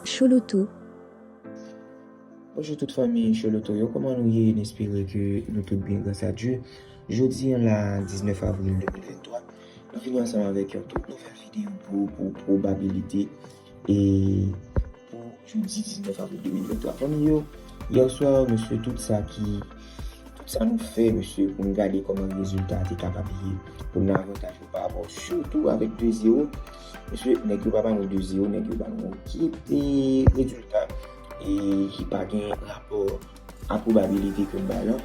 Chouloutou. Bonjou tout fanmi Chouloutou yo kòman nou ye n espere ke nou tout byen gras a Dye jodi an la 19 avril 2023 nou vini ansanm avèk yon tout nouvèl videyo pou ou pou pwobabilite e pou jodi 19 avril 2023 fanmi yo yèswa mesye tout sa ki tout sa nou fè mesye pou nou gade kòman rezilta a te kapab ye pou nou avantaj nou pa rapò sitou avèk 2 0 Mesye, nèg yo pa ba nou 2 0, nèg yo ba nou ekip e rezilta e ki pa gen rapò a pwobabilite ke m bay lan.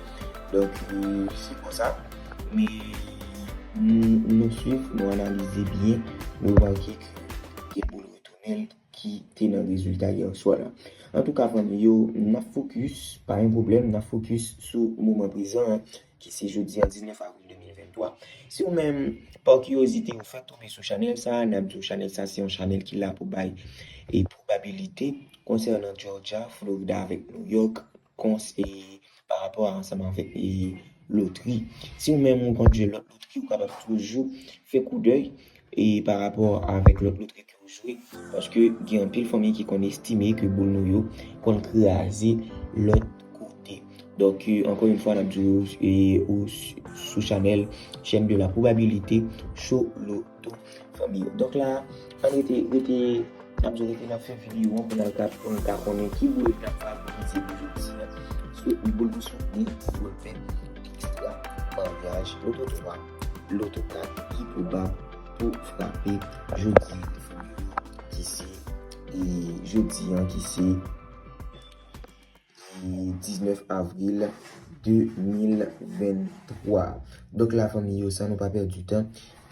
Donk, se konsa. Men, nou swiv, nou analize byen, nou remake ke gen boul retounen ki te nan rezilta yèswa la. Antouka fanmi yo, n ap fokis, pa gen pwoblèm, n ap fokis sou moman prezan an. ki se jodi a 19 avril 2023. Si ou menm, pa kiyozite ou fèk tonbe sou chanèl sa, nap di ou chanèl sa se yon chanèl ki la pou bay e pwobabilite konsènan Jòrjya, Florida avèk Nouyòk kons e pa rapò a ansanm avèk e lotri. Si ou menm ou konn jwe lòt lotri ou kapab toujou fè koudèy e pa rapò avèk lòt lotri. pou jwe paske gen anpil fanmi ki konn estime ke boul nou yo konn kraze lòt kote donk ankò yn fwa nap di yo ou sou chanèl chèn de la probabilité show loto fanmi yo donk la ann rete rete nap di yo rete nap fè video an pou nal ka pou nou ka konnen ki boul nap favorize pou jodi a se boul pou soutni boul pèdi ekstra maryaj loto 3 loto 4 ki pwobab pou frape jodi ki se jodi an ki se 19 avril 2023 donk la fanmi yo san nou pa pèdi tan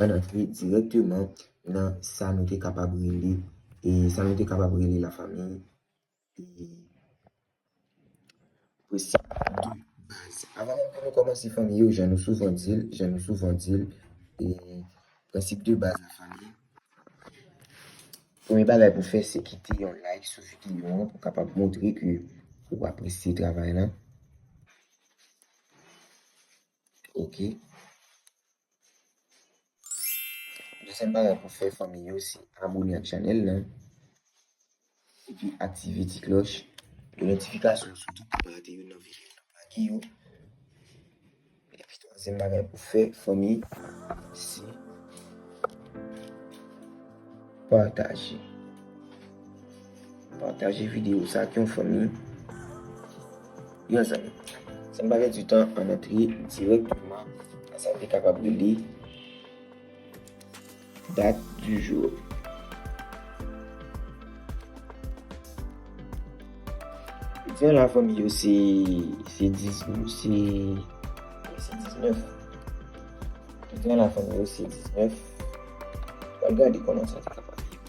an antre direktman nan sa nou te kapab rele e sa nou te kapab rele la fanmi Avan menm pou nou kòmanse fanmi yo jan nou souvan di l, jan nou souvan di l, prensip de baz nan fanmi, premye bagay pou fè se kite yon like sou videyo an pou kapab montre ke ou apresye travay la. Ok. Dezyèm bagay pou fè fanmi yo se abone ak chanèl lan. Epi aktive ti klòch. Pou notifikasyon sou tout pa rate youn nan videyo nou lage yo. Epi twazyèm bagay pou fè fanmi se pataje. Pataje video sa ak yon fanmi, yon zanmi. San pa pèdi tan, an n antre dirèkteman nan sa nou te kapab rele dat di jou. Jodi an la fanmi yo se 19 Jodi an la fanmi yo se 19 Pral gade kòman sa te ka pase.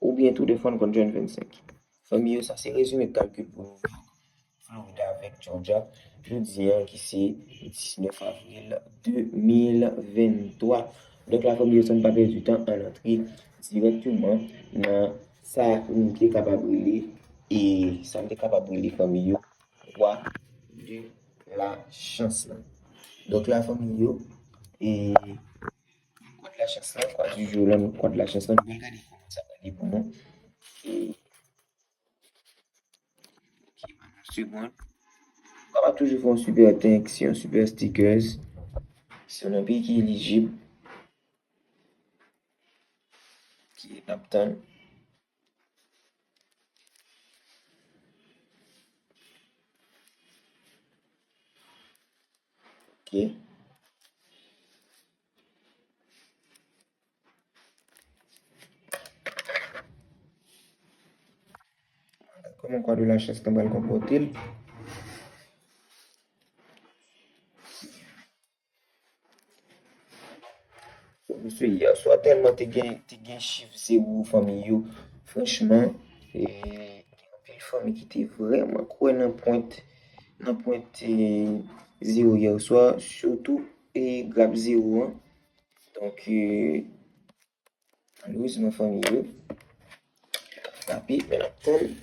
Oubyen tou de fwa n konn jwenn 25. Fanmi yo sa se rezime kalkil pou New York, Florida avèk Georgia jodi an ki se 19 avril 2023. Donk la fanmi yo san n pa pèdi tan ann antre dirèkteman nan sa nou te kapab rele e sa n te kapab rele fanmi yo Roi de la chance lan. Donk la fanmi yo e. Kwa de la chans lan, kwa di jou lan, kwa de la chans lan, mwen gade kouman sa pale pou nou. E, ki ban nou segond. Mwen pa toujou fon super thanks, yon super stickers. Si yon nan peyi ki elijib, ki nap tann. Kòman kwa de la chans nan bal konpòte l. Mesye yè swa tèlman te gen te gen chif zewo fanmi yo franchman e gen anpil fanmi ki te vrèman kwè nan pwent nan pwent zewo yè swa sitou e grap zewo an donk Louis nan fanmi yo. Tapi men ap tann.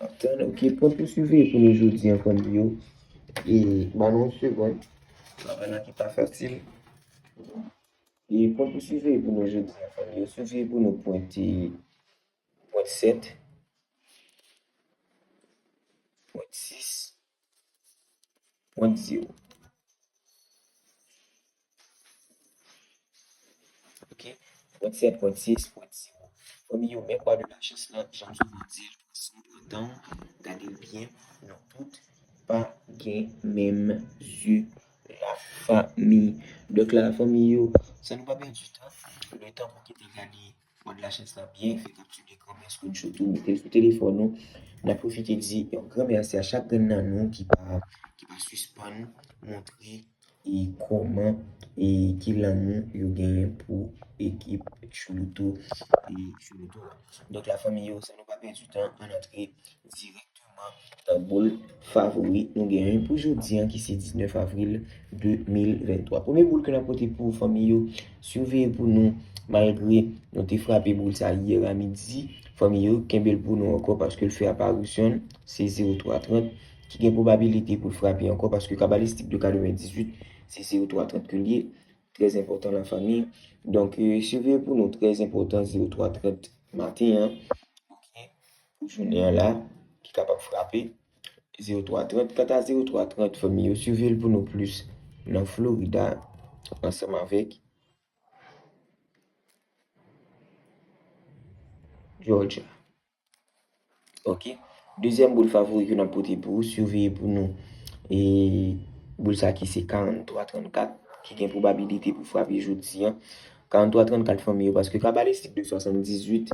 Ap tann ok. Pwent pou siveye pou nou jodi an fanmi yo. E ban nou yon segond. Travay la ki pa fasil. E pwent pou siveye pou nou jodi an fanmi yo. Siveye pou nou pwent 7. Pwent 6. Mwen di ou. Ok. 37, 36, mwen di ou. Fanmi yo, men kwa de la chans la, jan m souvan di l, si w pran tan w, gade l byen, nou tout pa gen menm je la fanmi. Donk la fanmi yo, san nou pa pèdi tan, le tan pou ki te gade. Fwad la chans la byen fèt ap tire granmè an screenshot ou metel sou telefòn ou nan pwofite di yon gran mèsi a chak grenn nan nou ki pa ki pa sispann montre e kòman e ki lanmou yo genyen pou ekip choulouto e choulouto a donk la fanmi yo san nou pa pèdi tan ann antre dirèkteman. Nan boul favori nou gen yon pou jodi an ki se 19 avril 2023. Premye boul ke nan pote pou fanmi yo, siveye pou nou malgre nou te frape boul sa yè a midi, fanmi yo kenbel pou nou anko paske l fè aparisyon, se 0330 ki gen pwobabilite pou l frape anko paske kabalistik de 98 se 0330 ke l ye, trè enpotan la fanmi. Donk siveye pou nou trè enpotan 0330 maten an. pou jounen an la ki kapab frape 0330. Kanta 0330 fanmi yo swive l pou nou plis nan Florida ansanm avèk Georgia. Ok, dezyèm boul favori ke nan pote pou ou, swive pou nou e boul sa ki se 4334 ki gen probabilite pou frape jodi an. 4334 fanmi yo paske kabalistik 278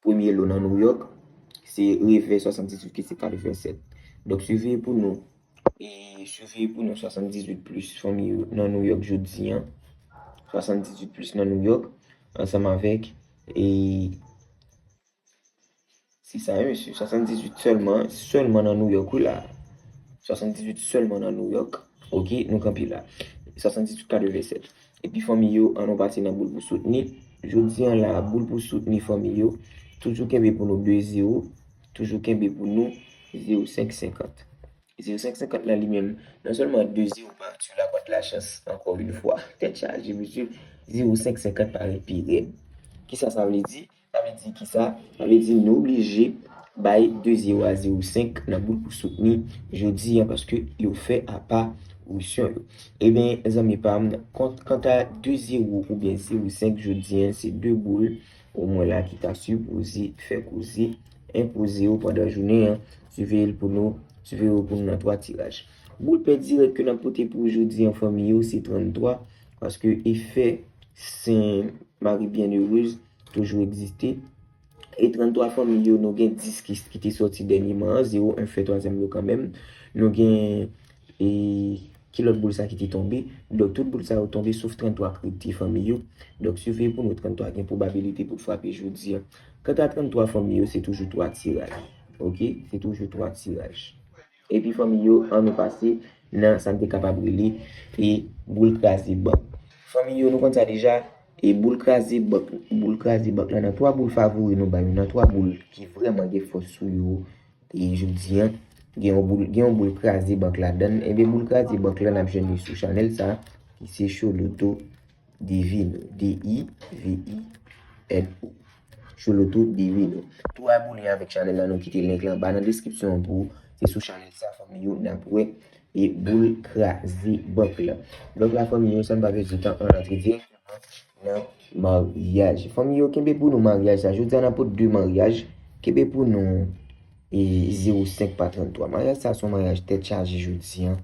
Premye lo nan New York se revè 78 ki se 87. Donk siveye pou nou e siveye pou nou 78 plis fanmi yo nan New York jodi an. 78 plis nan New York ansanm avèk e Se sa wi mesye, 78 sèlman, sèlman nan Nouyòk wi la. 78 sèlman nan Nouyòk, ok, nou kanpe la. 78 ka devè 7. Epi fanmi yo an nou pase nan boul pou soutni Jodi an la boul pou soutni fanmi yo Toujou kenbe pou nou 2 zero Toujou kenbe pou nou zero 5 senkant Zero 5 senkant la li menm non sèlman 2 zero pa sou lapat lachans ankò yn fwa Tèt chaje mesye Zero 5 senkant parèt pi rèd Kisa sa vle di? Sa vle di kisa? Sa vle di nou oblije bay 2 zewo a zewo senk nan boul pou soutni jodi an paske yo fè apa risyon yo. Ebyen zanmi pam kont kanta 2 zewo oubyen zewo senk jodi an se 2 boul ou mwen la ki ta sipoze fè koze enpoze yo pandan jounen an siveye l pou nou siveye yo pou nou nan 3 tiraj. Boul pè dirèk ke nap pote pou ou jodi an fanmi yo se 33 paske efè sen mari byennerez Toujou egziste. E 33 fanmi yo, nou gen 10 ki te sòti dènyeman an, 0, 1 fè twazyèm yo kanmenm. Nou gen e ki lòt boul sa ki te tonbe. Donk tout boul sa yo tonbe sof 33 k rete fanmi yo. Donk siveye pou nou 33 gen pwobabilite pou l frape jodi an. Kanta 33 fanmi yo se toujou 3 tiraj. Ok, se toujou 3 tiraj. Epi fanmi yo an nou pase nan sa n te kapab rele e boule kraze bank. Fanmi yo nou konn sa deja e boule kraze bank boule kraze bank la nan 3 boule favori nou bay yo nan 3 boule ki vrèman gen fòs sou yo e jodi an gen yon boule gen yon boule kraze bank ladan l enben boule kraze bank la n ap jwenn li sou chanèl sa ki se Choloto Divino, D-i-v-i-n-o. Chouloutou Divino. Tou abone avèk chanèl la nou kite link la anba nan deskripsyon an pou ou. Se sou chanèl sa fanmi yo n ap wè e boul kraze bank la. Donk la fanmi yo san pa pèdi tan an rantre direkteman nan maryaj. Fanmi yo kenbe pou nou maryaj sa. Jodi a n ap pote 2 maryaj. Kenbe pou nou. E 05 pa 33. Maryaj sa son maryaj tèt chaje jodi an.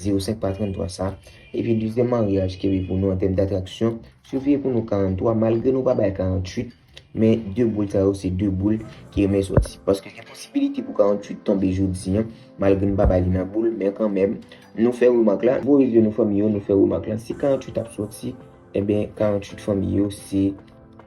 05 pa 33 sa. Epi dezyèm maryaj ki pi pou nou an tèm datraksyon. Siveye pou nou 43. Malgre nou pa bay 48. Men 2 boul sa yo se 2 boul ki renmen soti. Paske gen posibilite pou 48 tonbe jodi an. Malgre nou pa bay li nan boul. Men kan menm. Nou fè remak la. Voye zye nou fanmi yo. Nou fè remak la. Si 48 ap soti. Eben 48 fanmi yo se.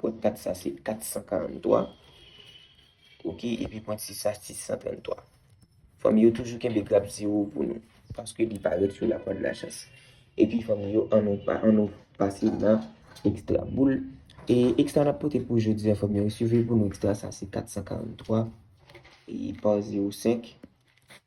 Pwent 4 sa se 443. Ok, epi pwent 6 sa 633. Fanmi yo toujou kenbe graf 0 pou nou. Paske li parèt sou la kòd la chans. Epi fanmi yo, an nou pase nan ekstra boul. E ekstra nap pote pou jodi a fanmi yo. Siveye pou nou ekstra sa se 443. E pa 0 5.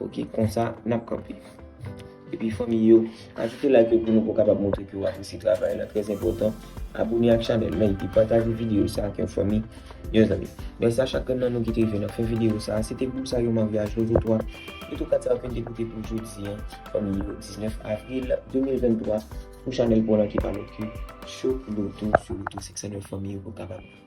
Ok konsa nap kanpe. Epi fanmi yo ajoute like yo pou nou pou kapab montre ke ou apresye travay la trèz enpòtan. Abone ak chanèl la epi pataje videyo sa ak yon fanmi, yon zanmi. Mèsi a chak nan nou ki te rive nan fen videyo sa. Se te group sa yo maryaj level 3. Level 4 sa yo fin te koute pou jodi an fanmi yo 19 avril 2023 pou chanèl pou lan ki pa lòt ke Cho Loto Sou Loto 509 fanmi yo pou kapab.